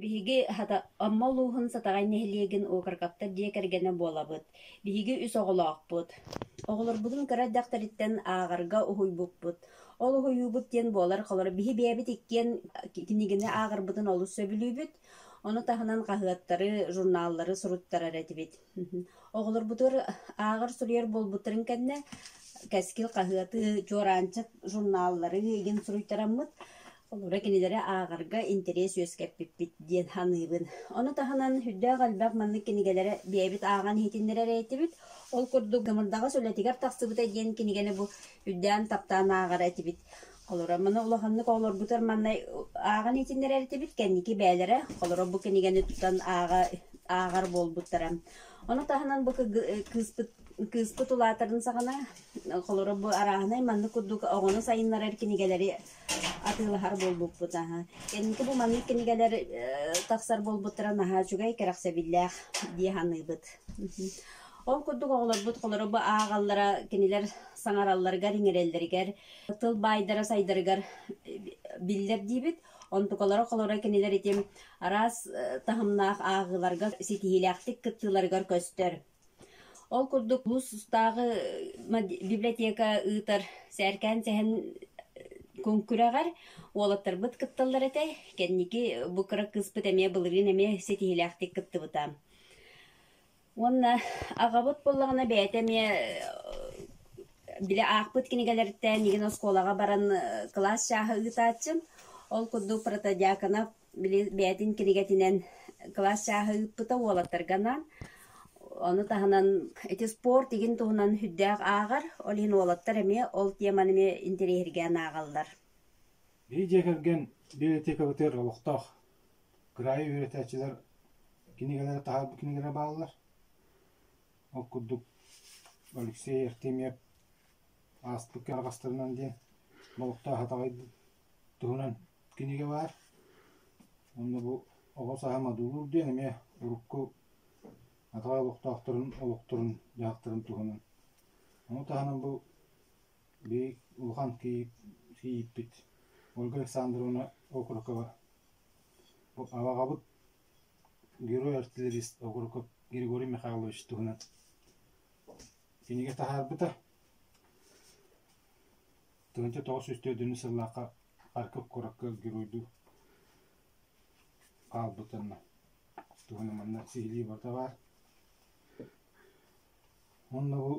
Биһиги, хата, Амма улууһун Сатаҕай нэһилиэгин уокаркаптар дьиэ кэргэнэ буолабыт. Биһиги үс оҕолоохпут. Оҕолорбутун кыра эрдэхтэриттэн ааҕарга уһуйбуппут. Ол уһуйуубут диэн буолар-халар биһи бэйэбит иккиэн кинигини ааҕарбытын олус сөбүлүүбүт. Ону таһынан хаһыаттары, журналлары суруттарар этибит. Оҕолорбутугар ааҕар-суруйар буолбуттарын кэннэ Кэскил хаһыаты, Чуораанчык журналлары игин суруйтараммыт. Холобура, кинилэри ааҕарга интэриэс үөскэппиппит диэн саныыбын. Ону таһынан үрдээх элбэх маннык кинигэлэри бэйэбит ааҕан иһитиннэрэр этибит. Ол курдук Дымырдаҕас үлэтигэр тахсыбыта диэн кинигэни бу үрдээн таптаан ааҕар этибит. Олорор маны улаханнык оҕолорбутугар маннай ааҕан иитиннэрэр этибит кэнники бээлэрэ холоро бу кинигэни тутан ааҕа ааҕар буолбуттара. Ону таһынан бу кыыспыт кыыспыт улаатарын саҕана холоро бу арааһынай маннык курдук оҕону сайыннарар кинигэлэри атыылаһар буолбуппут аһа. Кэнники бу маннык кинигэлэр тахсар буолбуттара наһаа үчүгэй кэрэхсэбиллээх дии саныыбыт. Ол курдук оҕолорбут холоро бу ааҕаллара кинилэр саҥаралларыгар иҥэрэллэригэр тыл баайдара сайдарыгар биллэр диибит онтукалара холоро кинилэр итим араас таһымнаах ааҕыыларга ситиһиилээхтик кыттыыларыгар көстөр ол курдук улус устааҕы библиотека ыытар сээркээн сэһэн куҥкүрэҕэр уолаттарбыт кытталлар этэ кэнники бу кыра кыыспыт эмиэ былырыын эмиэ ситиһиилээхтик кыттыбыта Уонна аҕабыт буоллаҕына бэйэтэ эмиэ били аахпыт кинигэлэриттэн мигин оскуолаҕа баран кылаас чааһа ыытааччым. Ол курдук протодьякона били бэйэтин кинигэтинэн кылаас чааһа ыыппыта уолаттарга анаан. Ону таһынан ити спорт игин туһунан сүрдээх ааҕар, ол иһин уолаттар эмиэ ол теманы эмиэ интэриэһиргээн ааҕаллар. Били дьиэ кэргэн библиотекабытыгар олохтоох кыраайы үөрэтээччилэр кинигэлэрэ таһаарбыт кинигэлэрэ бааллар. Ол курдук Алексей Артемьев ааспыт кыарҕастарынан диэн олохтоох атаҕай туһунан кинигэ баар. Онно бу оҕо сааһа модулуур диэн эмиэ урукку атаҕай олохтоохторун олохторун дьаһахтарын туһунан. Ону таһынан бу бии улахан кийииппит Ольга Александровна окурокова аваҕабыт герой-артиллерист Окуроков Григорий Михайлович туһунан кинигэ таһаарбыта тыһыынча тоҕус сүүс төрдүннүү сыллаахха Харьков куоракка геройдуу хаалбытынна туһунан манна сиһилии барыта баар Уонна бу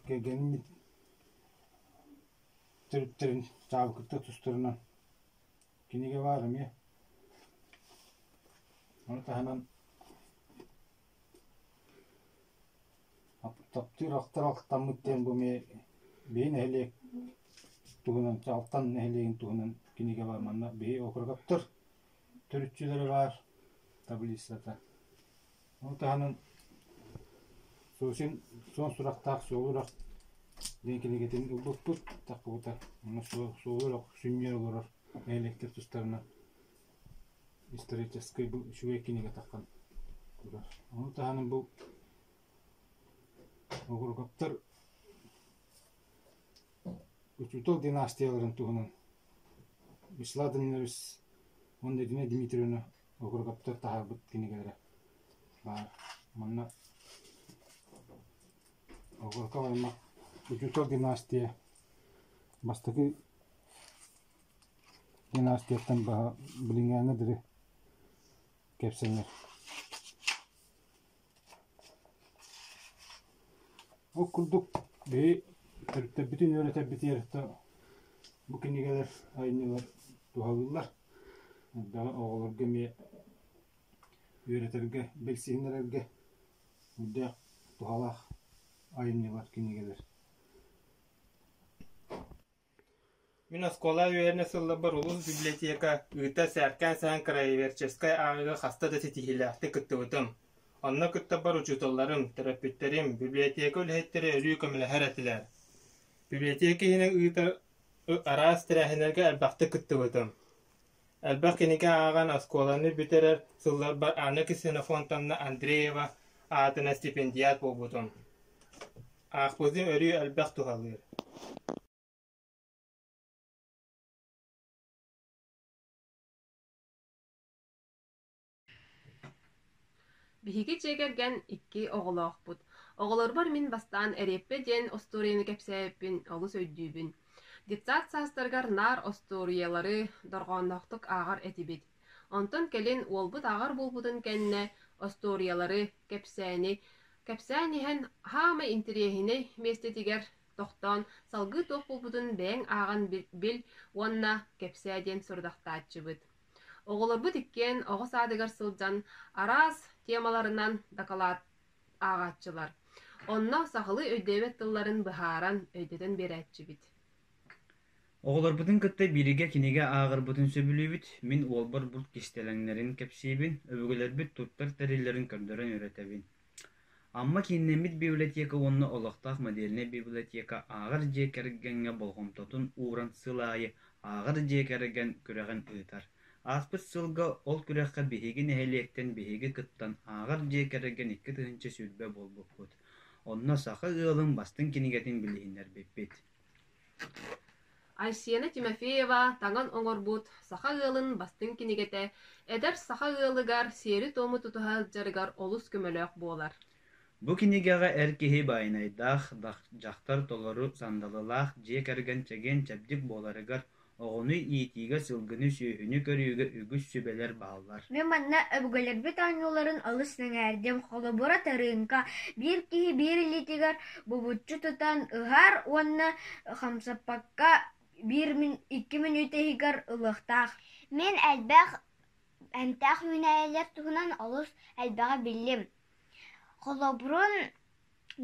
кэргэним төрүттэрин чаабыкыттан тустарынан кинигэ баар эмиэ. Ону таһынан таптыыр ахтар ахтаммыт диэн бу эмиэ биһи нэһилиэк туһунан Чаҕылтан нэһилиэгин туһунан кинигэ баар манна биһи округуттар төрүччүлэрэ баар таблицата Ол таһынан Сосин суон сурахтаах суол үрэх диэн кинигэтин ылбыппыт, тахпыбыта. Уонна суол үрэх сүнньүнэн олорор нэһилиэктэр тустарынан историческай үчүгэй кинигэ таххан турар. Ону таһынан бу Огоргоптор учуутал династияларын туһунан Вячеслав Данилович уонна Дина Дмитриевна Окургуттар таһаарбыт кинигэлэрэ баар. Манна Огурков аймах Учуутал династия бастакы династияттан баһа билиҥҥээҥҥэ дири кэпсэнэр Ол курдук биһи төрүттэбитин үөрэтэрбитигэр то бу кинигэлэр айымньылар туһалыыллар. Элбэҕи оҕолорго эмиэ үөрэтэргэ, билсиһиннэрэргэ үрдээх туһалаах айымньылар, кинигэлэр. Мин оскуола үөрэнэ сылларбар улус библиотека ыыта сээркээн-сэһэн краеведческай ааҕыыга хаста да ситиһиилээхтик кыттыбытым. Онно кыттарбар учууталларым, төрөппүттэрим, библиотека үлэһиттэрэ өрүү көмөлөһөр этилэр. Библиотека иһинэн ыытар араас тэрээһиннэргэ элбэхтик кыттыбытым. Элбэх кинигэ ааҕан оскуоланы бүтэрэр сылларбар Анна Ксенофонтовна Андреева аатына стипендиат буолбутум. Аахпытым өрүү элбэх туһалыыр Биһиги дьиэ кэргэн икки оҕолоохпут. Оҕолорбор мин бастаан Эриэппэ диэн остуоруйаны кэпсээбиппин олус өйдүүбүн. Детсад саастарыгар наар остуоруйалары дорҕоонноохтук ааҕар этибит. Онтон кэлин уолбут ааҕар буолбутун кэннэ остуоруйалары, кэпсээни кэпсээн иһэн хаамай интириэһинэй миэстэтигэр тохтоон салгыы туох буолбутун бэйэҥ ааҕан бил уонна кэпсээ диэн сорудахтааччыбыт. Оҕолорбут иккиэн оҕо саадыгар сылдьан араас темаларынан дакылаат ааҕааччылар. Онно сахалыы өйдөөбөт тылларын быһааран, өйдөтөн биэрээччибит. Оҕолорбутун кытта бииргэ кинигэ ааҕарбытын сөбүлүүбүт. Мин уолбар булт кистэлэҥнэрин кэпсиибин, өбүгэлэрбит туттар тэриллэрин көрдөрөн үөрэтэбин. Амма кииннэммит библиотека уонна олохтоох модельнай библиотека ааҕар дьиэ кэргэҥҥэ болҕомтотун ууран сыл аайы ааҕар дьиэ кэргэн күрэҕин ыытар. Ааспыт сылга ол күрэххэ биһиги нэһилиэктэн биһиги кыттан ааҕар дьиэ кэргэн икки тыһыынча сүүрбэ буолбуппут. Онно саха ыалын бастыҥ кинигэтин билиһиннэрбиппит. Айсена Тимофеева таҥан оҥорбут саха ыалын бастыҥ кинигэтэ эдэр саха ыалыгар сиэри-туому тутуһа сылдьарыгар олус көмөлөөх буолар. Бу кинигэҕэ эр киһи баайынайдаах, дьахтар толору сандалылаах дьиэ кэргэн чэгиэн-чэбдик буоларыгар Оҕону иитиигэ сылгыны-сүөһүнү көрүүгэ үгүс сүбэлэр бааллар. Мин манна өбүгэлэрбит оонньууларын олус сэҥээрдим. Холобура, тырыыҥка биир киһи биир илиитигэр булчу тутан ыһар уонна хамсаппакка биир мин икки мүнүүтэ иһигэр ылыахтаах. Мин элбэх эмтээх үүнээйилэр туһунан олус элбэҕи биллим. Холобурун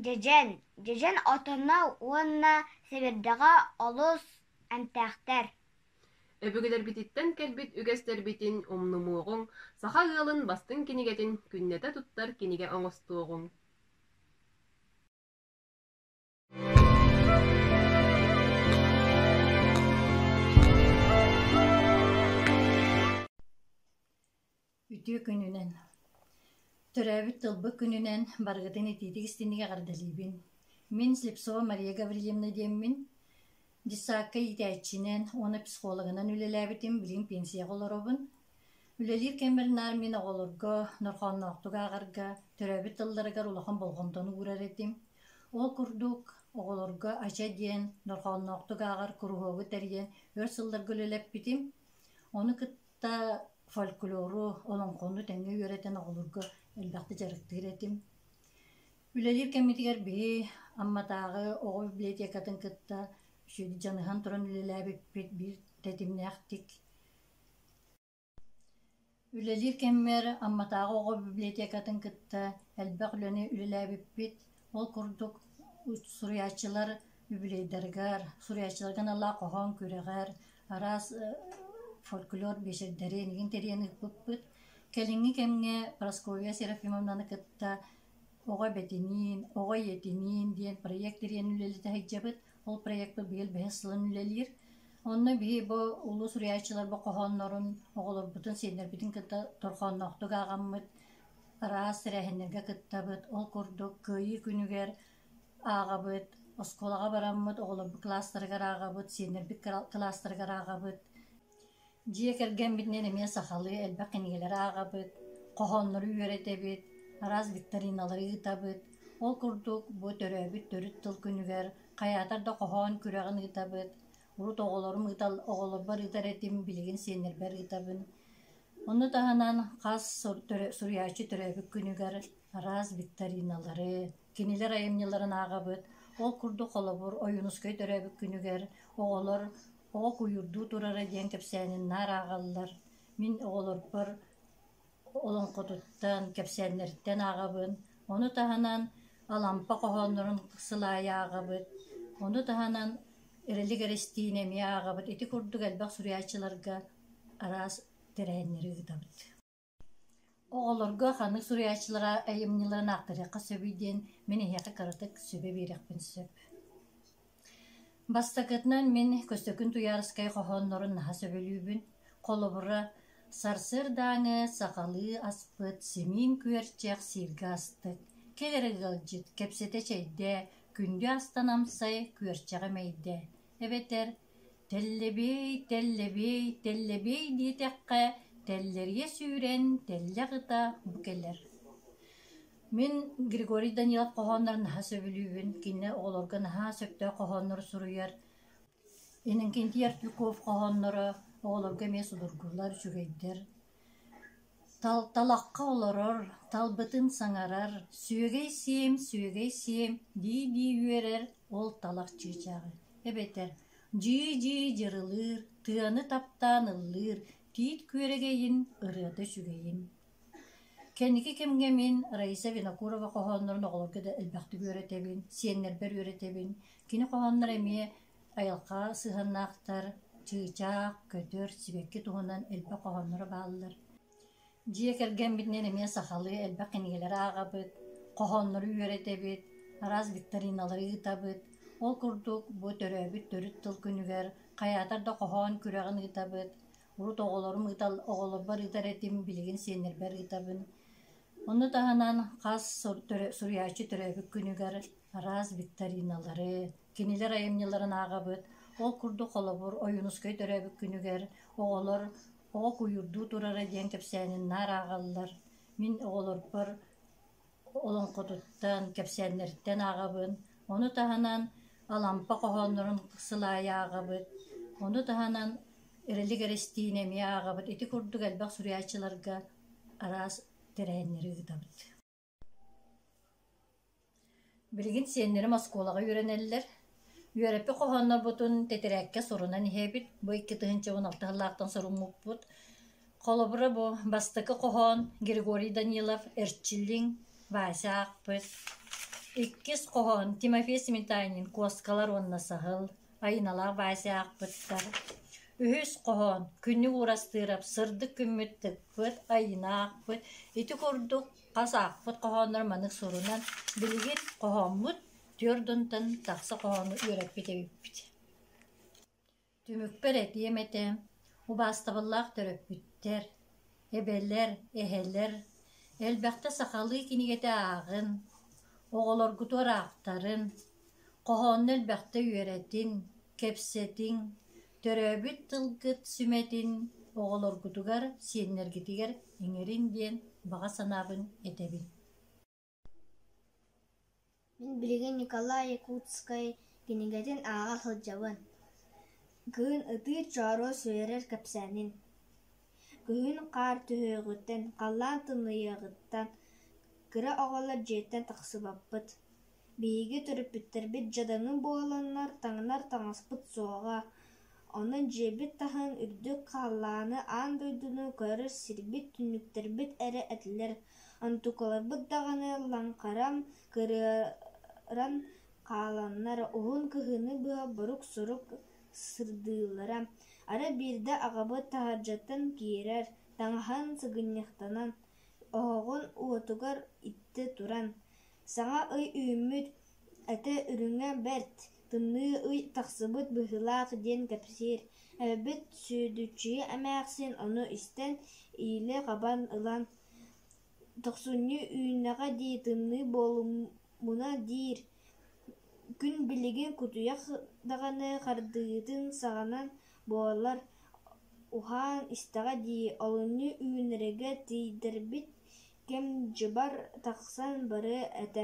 дьэдьэн. Дьэдьэн отоно уонна сэбирдэҕэ олус Эмтээхтэр Өбүгэлэрбититтэн кэлбит үгэстэрбитин умнумуоҕуҥ, саха ыалын бастыҥ кинигэтин күннэтэ туттар кинигэ оҥостуоҕуҥ. Үтүө күнүнэн! Төрөөбүт тылбыт күнүнэн барыгытын итиитик истинник эҕэрдэлиибин! Мин Слепцова Мария Гаврильевна диэммин, дьыссаакка иитээччинэн уонна психологынан үлэлээбитим, билигин пенсияҕа олоробун. Үлэлиир кэммэр наар мин оҕолорго норхоонноохтук ааҕарга, төрөөбүт тылларыгар улахан болҕомтону уурар этим. Ол курдук, оҕолорго АЧА диэн норхоонноохтук ааҕар куруһуогу тэрийэн өр сылларга үлэлэппитим. Ону кыт Да фольклору, олоҥхону тэҥҥэ үөрэтэн оҕолорго элбэхтик дьарыктыыр этим. Үлэлиир кэммитигэр биһи Амматааҕы оҕо библиотекатын кытта үчүгэйдик дьаныһан туран үлэлээбиппит биир тэтимнээхтик. Үлэлиир кэммэр Амматааҕы оҕо библиотекатын кытта элбэх үлэни үлэлээбиппит. Ол курдук суруйааччылар үбүлүөйдэригэр, суруйааччыларга аналлаах хоһоон күрэҕэр араас фольклор биэчэрдэри эйигин тэрийэн ыыппыппыт. Кэлиҥҥи кэмҥэ Прасковья Серафимовнаны кытта Оҕо эбэтиниин, Оҕо ийэтиниин диэн проект тэрийэн үлэлэтэ сылдьабыт. Ол проекпыт быйыл бэһис сылын үлэлиир. Онно биһи бу улуу суруйааччылар бу хоһооннорун оҕолорбутун, сиэннэрбитин кытта торхоонноохтук ааҕаммыт, Ыраас тэрээһиннэргэ кыттабыт, ол курдук Кыайыы күнүгэр ааҕабыт, оскуолаҕа бараммыт, оҕолорбут кылаастарыгар ааҕабыт, сиэннэрбит кылаастарыгар ааҕабыт. Дьиэ кэргэммитинэн эмиэ сахалыы элбэх кинигэлэри ааҕабыт, хоһооннору үөрэтэбит, араас викториналары ыытабыт. Ол курдук бу төрөөбүт төрүт тыл күнүгэр хайаатар да хоһоон күрэҕин ыытабыт. урут оҕолорум ыытал оҕолорбор ыытар этим билигин сиэннэрбэр ыытабын онно таһынан хас суруйааччы төрөөбүт күнүгэр араас викториналары кинилэр айымньыларын ааҕабыт ол курдук холобур ойуунускай төрөөбүт күнүгэр оҕолор оҕо куйуурдуу турара диэн кэпсээнин наар ааҕаллар мин оҕолорбор Олоҥхотуттан, кэпсээннэриттэн ааҕабын, ону таһынан Алампа хоһооннорун сыл аайы ааҕабыт, ону таһынан Эрэлик Эрэстиинэ эмиэ ааҕабыт. Ити курдук элбэх суруйааччыларга араас тэрээһиннэри ыытабыт. Оҕолорго ханнык суруйааччылара айымньыларын ааттаһыахха сөбүй диэн мин эһиэхэ кыратык сөбө биэриэхпин сөп. Бастакытынан мин Көстөкүн Туйаарыскай хоһооннорун наһаа сөбүлүүбүн. Холобура, сарсыардааҥы сахалыы аспыт симиин күөрчэх сииргэ астык, кэҥэрик ыалдьыт, кэпсэтэ чэйдээ, күндү астан амсай, күөрчэҕи мэйдэ. Эбэтэр тэллэбиэй, тэллэбиэй, тэллэбиэй диэтэххэ тэллэрийэ сүүрэн, тэллэ аҕыта бу кэлэр Мин Григорий Данилов хоһооннорун наһаа сөбүлүүбүн, кини оҕолорго наһаа сөптөөх хоһооннору суруйар. Иннокентий Артюков хоһоонноро оҕолорго эмиэ судургулар, үчүгэйдэр. Тал талахха олорор, талбытын саҥарар, сүөгэй сиэм, сүөгэй сиэм, дии-дии үөрэр ол талах чыычааҕы. Эбэтэр дьии-дьии дьырылыыр, тыаны таптаан ыллыыр, тиит күөрэгэйин, ырыата үчүгэйин. Кэнники кэмҥэ мин Раиса Винокурова хоһооннорун оҕолорго да элбэхтик үөрэтэбин, сиэннэрбэр үөрэтэбин. Кини хоһоонноро эмиэ айылҕа сыһыаннаахтар, чыычаах, көтөр, сибэкки туһунан элбэх хоһоонноро бааллар. Дьиэ кэргэммитинэн эмиэ сахалыы элбэх кинигэлэри ааҕабыт, хоһооннору үөрэтэбит, араас викториналары ыытабыт. Ол курдук бу төрөөбүт төрүт тыл күнүгэр хайаатар да хоһоон күрэҕин ыытабыт. урут оҕолорум ыытал оҕолорбор ыытар этим билигин сиэннэрбэр ыытабын Ону таһынан хас сур- төрө- суруйааччы төрөөбүт күнүгэр араас викториналары, кинилэр айымньыларын ааҕабыт. Ол курдук, холобур, Ойуунускай төрөөбүт күнүгэр оҕолор «Оҕо куйуурдуу турара» диэн кэпсээнин наар ааҕаллар. Мин оҕолорбор Олоҥхотуттан, кэпсээннэриттэн ааҕабын, ону таһынан Алампа хоһооннорун сыл аайы ааҕабыт, ону таһынан Эрэлик Эрэстиинэ эмиэ ааҕабыт. Ити курдук элбэх суруйааччыларга араас тэрээһиннэри ыытабыт. Билигин сиэннэрим оскуолаҕа үөрэнэллэр. Үөрэппит хоһооннорбутун тэтэрээккэ сурунан иһэбит. Бу икки тыһыынчабын алта сыллаахтан суруммуппут. Холобура бу бастакы хоһоон Григорий Данилов «Эрчиллиҥ» Вася аахпыт. Иккис хоһоон Тимофей Сметанин «Куоскалар уонна саһыл» Айыналаах Вася аахпыттар. Үһүс хоһоон Күннүк Уурастыырап «Сырдык күммүт тыкпыт» Айыына аахпыт. Ити курдук Хас аахпыт хоһооннор маннык суолунан билигин хоһооммут түөрт унтан тахса хоһоону үөрэппит эбиппит. Түмүкпэр этиэм этэ, убаастабыллаах төрөппүттэр, эбэлэр, эһэлэр, элбэхтэ сахалыы кинигэтэ ааҕын, оҕолоргутугар аахтарын, хоһоонну элбэхтэ үөрэтин, кэпсэтин, Төрөөбүт тылгыт сүмэтин оҕолоргутугар, сиэннэргитигэр иҥэрин диэн баҕа санаабын этэбин Мин билигин Николай Якутскай кинигэтин ааҕа сылдьабын. Кыһын ытыыр чооруос үөрэр кэпсээнин. Күһүн хаар түһүөҕүттэн, халлаан тымныйыаҕыттан, кыра оҕолор дьиэттэн тахсыбаппыт. Биһиги төрөппүттэрбит дьадаҥы буоланнар таҥнар таҥаспыт суоҕа, онон дьиэбит таһын үрдүк хааллааны аан дойдуну көрөр сирбит, түннүктэрбит эрэ этилэр. Онтукаларбыт даҕаны лаҥхаран, кырыаран хааланнар, уһун кыһыны быһа борук-сорук сырдыыллара. Арай биирдэ аҕабыт таһырдьаттан киирэр, таҥаһын сыгынньахтанан, оһоҕун уотугар иттэ туран: Саҥа ый үүммүт, этэ үрүҥэ бэрт, тымныы ый тахсыбыт быһыылаах диэн кэпсиир. Эбэбит Сүөдүччүйэ эмээхсин ону истэн, иилэ-хабан ылан, «Тохсунньу үүннэҕэ дии, тымныы буолуммуна» диир. Күн билигин кутуйах даҕаны хардыытын саҕанан буолар, уһаан истэҕэ дии, олунньу үүнэргэ тиийдэрбит кэм дьыбар тахсан бары этэ